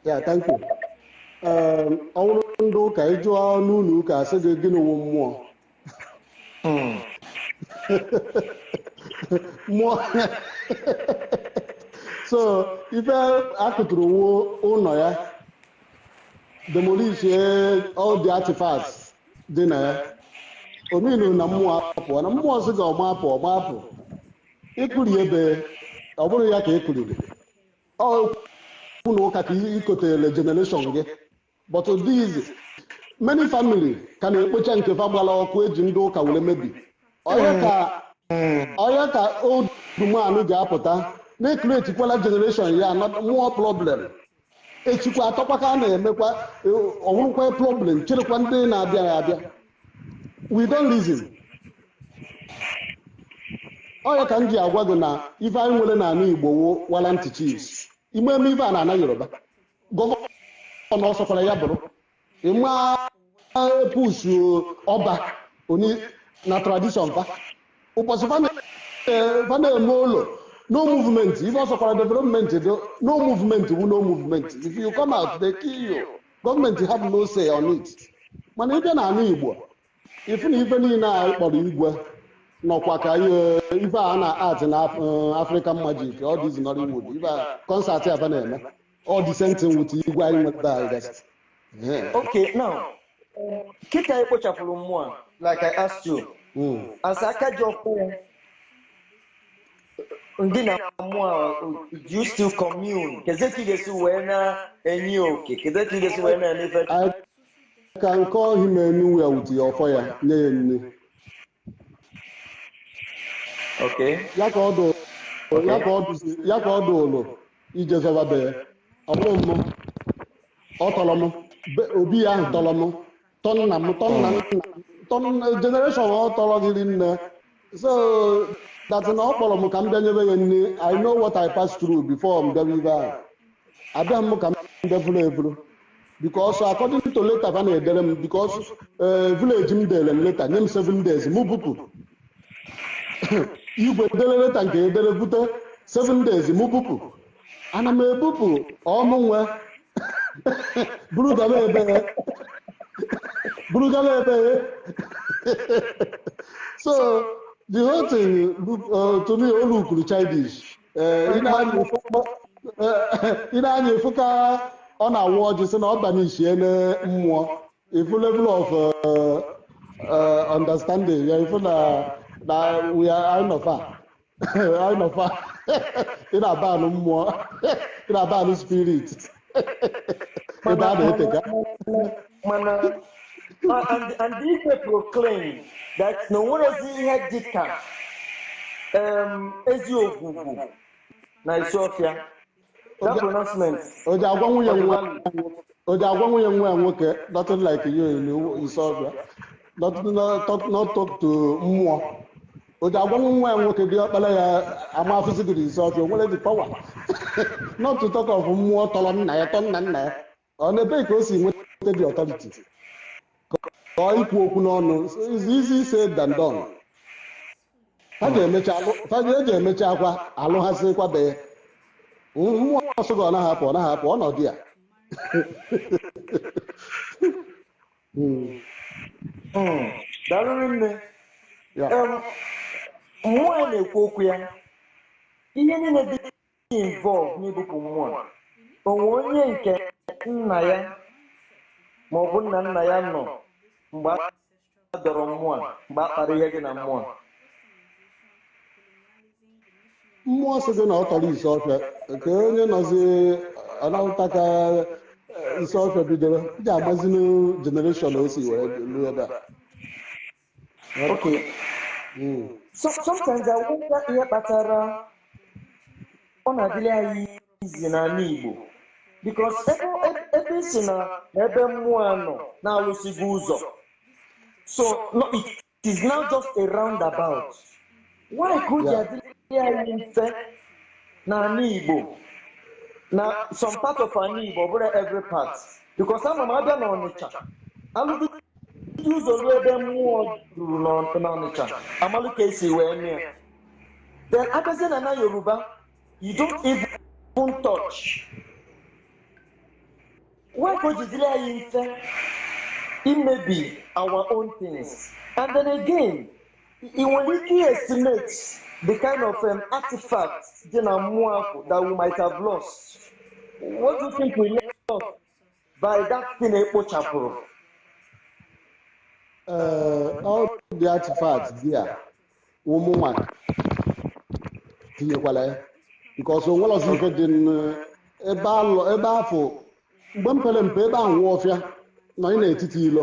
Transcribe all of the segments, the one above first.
Yeah thank you Ee, ọ bụrụ ndị ụka ị jụọ n'ụlọ ụka a sị gị gịnị wụ mmụọ Mm. mmụọ so ife a kụtụrụ wụ ụlọ ya demolisie all the artifacts dị na ya o meanụ na mmụọ apụọna mmụọ sị gị ọ ma apụ ọ ma apụ ị kụrie ebe ọ bụrụ ya ka ị kụriri okwu na ụka ka i kotele generation gị but these many family ka na-ekpocha nke fa gbara ọkụ e ji ndị ụka were mebi ọya ka old man ji apụta na-ekretikwala generation ya more problem echikwa atọkwa ka a na-emekwa ọ wụrụkwa problem cherekwa ndị na-abịaghị abịa we don't reason ọya ka m ji agwa gị na ife anyị nwere n'ala igbo wụ warrant chiefs ị ma eme ife a n'ana yoruba gọvanọ ọ sọkwara ya bụrụ ị ma push ọba ooni na tradition fa ụbọchị fa na-eme oro no movement ife ọ sọkwara development do no movement wu no movement if you come out they kill you government have no say on it mana ị bịa n'ala igbo ị fụ na ife niile a kpọrọ igwe nọkwa ka ihe ife a na-act na Af- eh, african magic all this nollywood ife a concert aba na-eme ọ the same thing with igwe anyị nweta anyị gasị Yeah. okay now kịta anyị kpochapụrụ mmụọ a, like i asked you Mm. as aka ji ọkụ ya ndị na mmụọ a, do you still commune kedu ka ị ga-esi wee na-enye oke kedu ka ị ga-esi wee na-eme ife I can call him anywhere with ọfọ ya nye ya nri okay ya ka ọ dụ ya ka ọ dụzi ya ka ọ dụ ụlọ ije zọba be ya ọ bụrụ m ọ tọrọ m be- obi ya ahụ tọrọ m tọ nna m tọ nna m tọ nna generation ọ tọrọ anyị niine so that na ọ kpọrọ m ka m bịa nyebe ya nri i know what i pass through before m bịawa ebe ahụ abịa m ka m bịa furu efuru because according to leta fa na-edere m because eh, village m dere m leta nye m seven days mụ bupụ igwe dere leta nke edere bute seven days mụ bupụ ana m ebupụ ọ mụ nwe buru gaba ebe buru gaba ebe so the whole thing look- uh, to me o lookuru childish Eh, ị na-anya efu- eh, ị na-anya efu ka ọ na-awa ọjị sị na ọ banishiele mmụọ ị fụ level of uh, uh, understanding ya ị fụ na na we are out of her anyị nọkwa ị na-aban mmụọ ị na-aban spirit ebe a na-eteka mana uh, and and igwe proclaim that na onwerozi ihe dịka um, ezi ogwugwu na Isuọfịa That pronouncement. o ji agwa nwunye Ọ dị nwa valid. o ji agwa nwunye nwa ya nwoke nothing like you in Isuọfịa not, not, talk- not talk to mmụọ o ji agwa nwa ya nwoke diọkpara ya ama afụzi gị n'Isuọfịa o nwere the power not to talk of mmụọ tọrọ nna ya tọ nna nna ya ọ n'ebe ka o si nweta the authority ka ọ ikwu okwu n'ọnụ is easy said than done ha ga-emecha alụ ha ga-eji emecha akwa alụ ha sịkwa be ya mmụọ ọsọ gị ọ naghị apụ ọ naghị apụ ọnọdụ ya Mm, Mm, daalụ rinne ya Em, mmụọ a na-ekwu okwu ya ihe niile dị involved n'ibupụ mmụọ a. o nwe onye nke nna ya ma ọ bụ nna nna ya nọ mgbe a dọrọ mmụọ a, mgbe a kpara ihe dị na mmụọ a. mmụọ sị gị na ọ tọrọ Isuọfịa ka onye nọzi na-ahụta ka eh, Isuọfịa bidoro ị ga-amazi na generation o si wee ruo ebe a Okay. Mm. So, sometimes I wonder ihe kpatara ọ na-adịrị anyị easy n'ala Igbo because ebe ebe- ebe ị si na na ebe mmụọ a nọ na alụsịgo ụzọ so no, it is now just a roundabout why ka o ji adịrị anyị mfe n'ala Igbo na some part of ala Igbo ọ bụrọ every part because ama m na abịa na Ọnịcha alụdị ụzọ ruo ebe mmụọ ruru n'Ọ- n'Ọnịcha amalụ ka esi wee mee ya. then abịazie na na Yoruba you don't even touch why ka o ji dịrị anyị mfe imebi our own things and then again ị nwere ike estimate the kind of um, artifact dị na mmụọ ahụ that we might have lost what do you think we lost by that thing ekpochapụrụ uh, all the artifacts there ụmụnwa tinyekwala ya because onwere ọzọ ife dị ebe afụ mgbe m pere mpe ebe ahụ nwa ọfịa nọ n'etiti ilo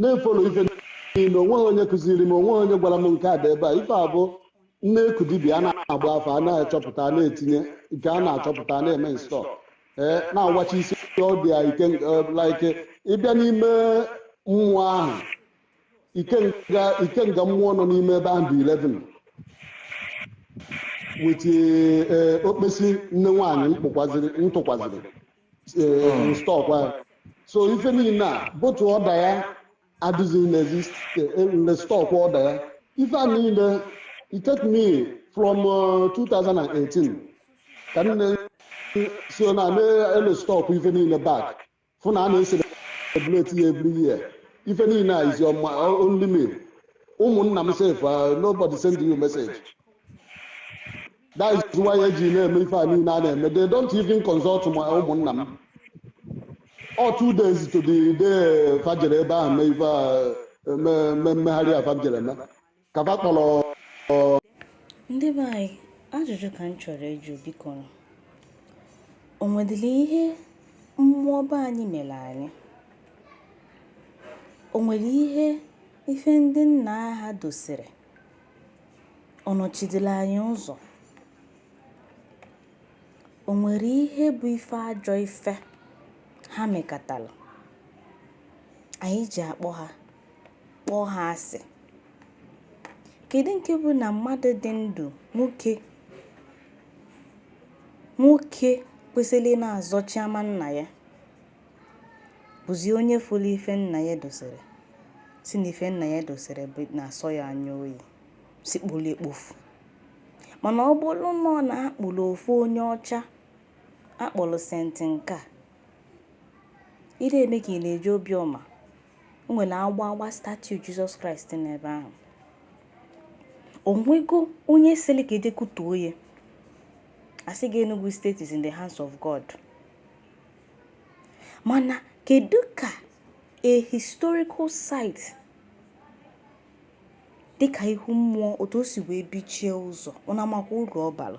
na-efolo ife niile onweghị onye kụziri m onweghị onye gwara m nke a dị ebe a ife a bụ na-eku dibịa a na-agba afa a na-achọpụta a na-etinye nke a na-achọpụta a na-eme install ee na-awachi isi ọ dị ya ike eh, like ịbịa n'ime mmụọ ahụ ikenga mmụọ nọ n'ime ebe ahụ dị 11 with eh, okpesi nne nwaanyị ntụkwaziri stọk anyị so ife niile a both ọda ya adịghị n'ezi stọk ọda ya ife a niile it take me from uh, 2018 ka m na so na na-erestock ife niile back fụ na a na-eselebrate ya every year ife niile a is on my only me ụmụnna m sef nobody send you message that is why eji na-eme ife a niile a na-eme they don't even consult my ụmụnna m ọ two days to the day fa jere ebe ahụ mee ife a me- me- megharịa fa jere eme ka fa kpọrọ ndị be anyị ajụjụ ka m chọrọ ịjụ biko nụ. o nwedịrị ihe mmụọ be anyị mere anyị o nwere ihe ife ndị nna ha dosiri ọ nọchidela anyị ụzọ o nwere ihe bụ ife ajọ ife ha mekatala anyị ji akpọ ha kpọọ ha asị kedu nke bụ na mmadụ dị ndụ nwoke kwesịrị na-azọchi ama nna ya bụzi onye fụrụ ife nna ya dosiri sị na ife nna ya dosiri na-asọ ya anya oyi sị kpolo ya kpofuo mana ọ bụrụ na ọ na a kpụrụ ofu onye ọcha a kpọrọ senti nke a ị na-eme ka ị na-eji obiọma o nwere agba agba statue jizọs kraịst n'ebe ahụ o nwego onye sịrị ka e je kutuo ya a sị gị enugu state is in the hands of god Mana kedu ka a historical site dịka ihu mmụọ otu o si wee bichie ụzọ ụnụ amakwa uru ọ bara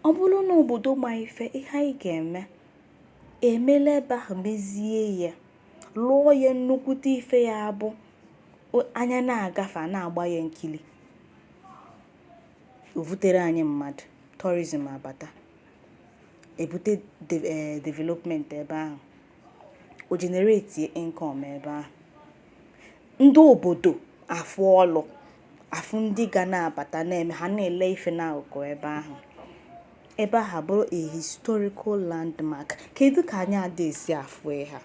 ọ bụrụ na obodo ma ife ihe anyị ga-eme emela ebe ahụ mezie ya lụọ ya nnukwute ife ya abụ anya na-agafe a na-agba ya nkili o vutere anyị mmadụ tourism abata ebute eh, development ebe ahụ o generate income ebe ahụ ndị obodo afụ ọlụ afụ ndị ga na-abata na-eme ha na-ele ife n'akụkụ ebe ahụ ebe ahụ bụrụ a historical landmark kedu ka anyị ada esi afụ ha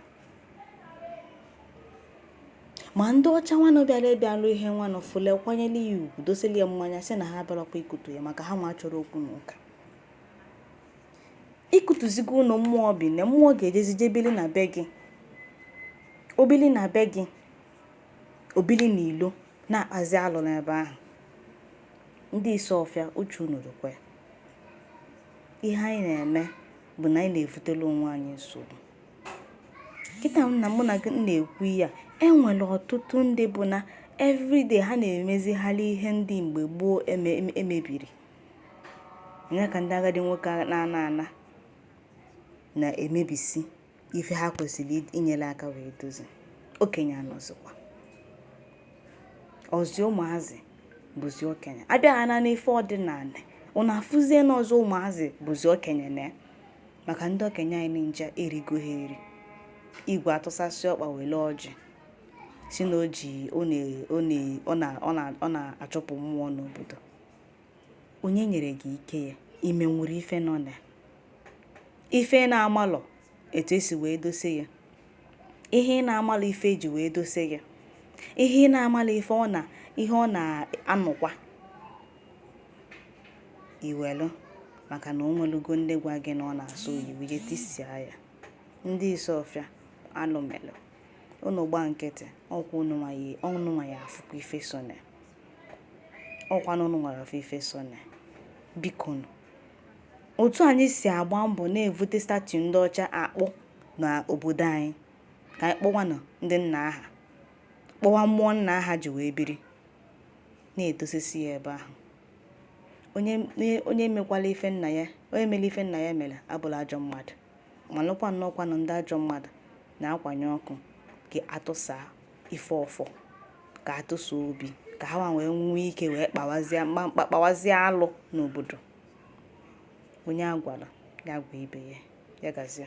ma ndị ọcha nwanụ bịara bịalụ ihe nwanụ fụlụ ya kwanyere ya ugwu dosili ya nwayọ sị na ha abịarakwa ikutu ya maka ha nwa achọrọ okwu na ụka i kutuzigo ụnọ mmụọ bi na mmụọ ga-ejezi je bili na be gị o bili na be gị o bili na ilo na-akpazi alụ n'ebe ahụ ndị Isuofia uche unu dịkwa ya ihe anyị na-eme bụ na anyị na-evutela onwe anyị nsogbu kịta na mụ na gị na-ekwu ya enwere ọtụtụ ndị bụ na everyday ha na-emezigharị ihe ndị mgbe gboo emebiri nya ka ndị agadi nwoke na-ana ana na-emebisi ife ha kwesịrị inyere aka wee dozi okenye anọzikwa ọzi ụmụazị bụzi okenye a bịa ha na n'ife ọdịnanị unu afụzie na ọzi ụmụazị bụzi okenye na maka ndị okenye anyị nja erigo ha eri igwe atụsasị ọkpa were ọjị sị na o ji ọ na-achụpụ mmụọ n'obodo onye nyere gị ike ya imerụ ife nọ na ife ị na-amalọ etu e si wee dose ya ihe ị na-amalọ ife e ji wee dose ya ihe ị na-amalọ ihe ọ na-anụkwa i welu maka na o nwelugo ndị gwa gị na ọ na-asụ oyibo je tisia ya ndị Isuofia alụ melụ unu gba nkịtị ọkwa unu nwa ya-afụkwa ife so na ọkwanụ unu nwa ya-afụ ife so na bikonu otu anyị si agba mbọ na-evute statue ndị ọcha akpụ na obodo anyị ka anyị kpụwanụ ndị nna a ha kpụwa mmụọ nna a ha ji wee biri na-edosisi ya ebe ahụ onye mekwala ife nna ya onye mere ife nna ya mere abụlọ ajọ mmadụ malụkwa na ọkwanụ ndị ajọ mmadụ na-akwanye ọkụ ka a tụsaa ife ọfọ ka a tụsa obi ka ha wee nwee ike wee kpawazie mkpamkpa kpawazie alụ n'obodo onye a gwara ya gwa ibe ya ya gazie